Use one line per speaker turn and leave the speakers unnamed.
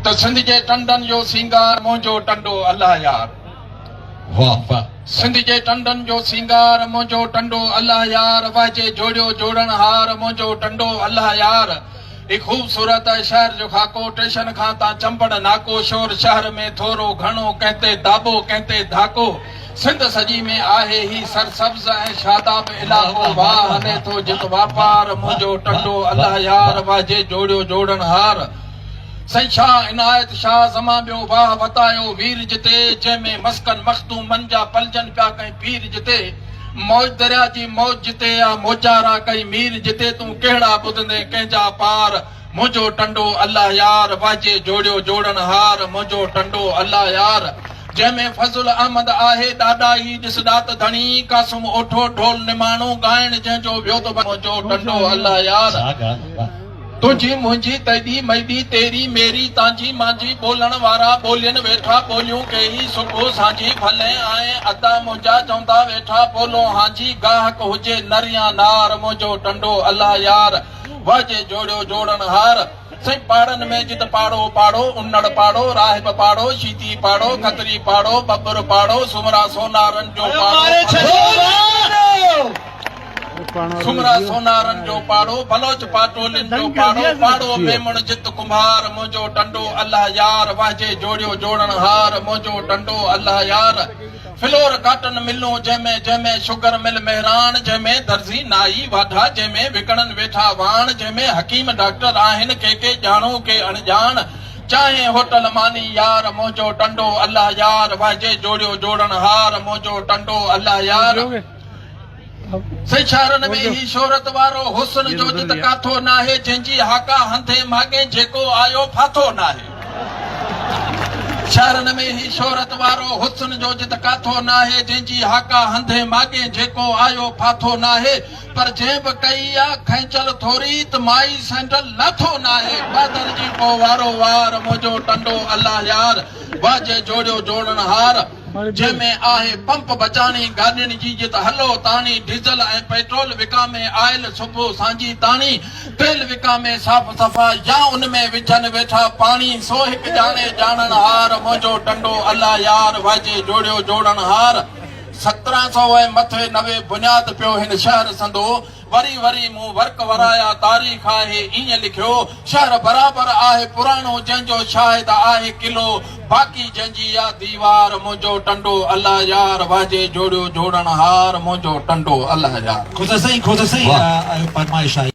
ته سنڌ جي ٽنڊن جو سينگار منهنجو ٽنڊو الله يار. واھ
واھ سنڌ جي ٽنڊن
جو سينگار منهنجو ٽنڊو الله يار واهجي جوڙيو جوڙڻ هار منهنجو ٽنڊو الله يار هي خوبصورت شهر جو خاڪو ٽيشن کان تان چمبڙ ناڪو شور شهر ۾ ٿورو گهڻو ڪنهن تي داٻو ڪنهن تي ڌاڪو سنڌ سڄي ۾ آهي هي سرسبز ۽ شاداب علائقو واھ هلي ٿو جت واپار منهنجو ٽنڊو الله يار واهجي جوڙيو جوڙڻ هار سائين شاهه عنايت شاهه زمان ٻيو واهه وتايو وير جتي جنهن ۾ مسڪن مخدومن جا پلجن پيا ڪئين پير جتي موج دريا جي موج جتي آ موجارا ڪئين مير جتي تون ڪهڙا ٻڌندين ڪنهن جا پار منهنجو ٽنڊو الله يار واهجي جوڙيو جوڙڻ هار منهنجو ٽنڊو الله يار جنهن ۾ فضل احمد آهي ڏاڏا هي ڏس ڏات ڌڻي قاسم اوٺو ڍول نماڻو ڳائڻ جنهن جو ويو ته منهنجو ٽنڊو الله يار تنهنجي منهنجي تيڏي ميڏي تيري ميري تانجي مانجي ٻولڻ وارا ٻولين ويٺا ٻوليون ڪيئي صبح سانجهي ڦلين آهين ادا منهنجا چوندا ويٺا ٻولون هانجي گاهڪ هجي نر يا نار منهنجو ٽنڊو الله يار واهجي جوڙيو جوڙڻ هار سائين پاڙن ۾ جت پاڙو پاڙو انڙ پاڙو راهب پاڙو شيدي پاڙو کتري پاڙو ٻٻر پاڙو سومرا سونارن جو پاڙو سمرا سونارن جو پاڙو، بلوچ پاٽولين جو پاڙو، پاڙو ميمڻ جت ڪنڀار، منهنجو ٽنڊو الله يار، واهجي جوڙيو جوڙڻ هار، منهنجو ٽنڊو الله يار. فلور ڪاٽن ملون جنهن ۾، جنهن ۾، شگر مل مهراڻ، جنهن ۾ درزي نائي واڍا، جنهن ۾ وڪڻن ويٺا واڻ، جنهن ۾ حڪيم ڊاڪٽر آهن، ڪي ڪي ڄاڻو ڪي اڻڄاڻ، چانهه هوٽل ماني يار، منهنجو ٽنڊو الله يار، واهجي جوڙيو جوڙڻ هار، منهنجو ٽنڊو الله يار. سيشارن ۾ هي شهرت وارو حسن جو جت ڪاٿو ناهي جنهن جي هاڪا هنڌين ماڳين جيڪو آيو ڦاٿو ناهي شهرن ۾ هي شهرت وارو حسن جو جت ڪاٿو ناهي جنهن جي هاڪا هنڌين ماڳين جيڪو آيو ڦاٿو ناهي پر جنهن به ڪئي آ کينچل ٿوري ته مائي سينڊل لاٿو ناهي بادل جي پوء وارو وار منهنجو ٽنڊو الله يار واجهي جوڙيو جوڙڻهار جنهن ۾ آهي پمپ بچاڻي، گاڏين جي جت هلو تاڻي، ڊيزل ۽ پيٽرول وڪامي، آئل سگهو سانجهي تاڻي، تيل وڪامي صاف صفا يا ان ۾ وجهن ويٺا پاڻي، سو هڪ ڄاڻي ڄاڻڻ هار، منهنجو ٽنڊو الله يار، واجهي جوڙيو جوڙڻ هار. سترهن سئو ۽ مٿي نوي بنياد پيو هن شهر سندو. وري وري مون ورق ورايا، تاريخ آهي ائين لکيو، شهر برابر آهي پراڻو جنهن جو شاهد آهي قلعو، باقي جنهن جي آ ديوار منهنجو ٽنڊو الا يار، واجهي جوڙيو جوڙڻهار
منهنجو
ٽنڊو الا
يار.
خود سائين
خود
سائين آهيو
فرمائش
آهي.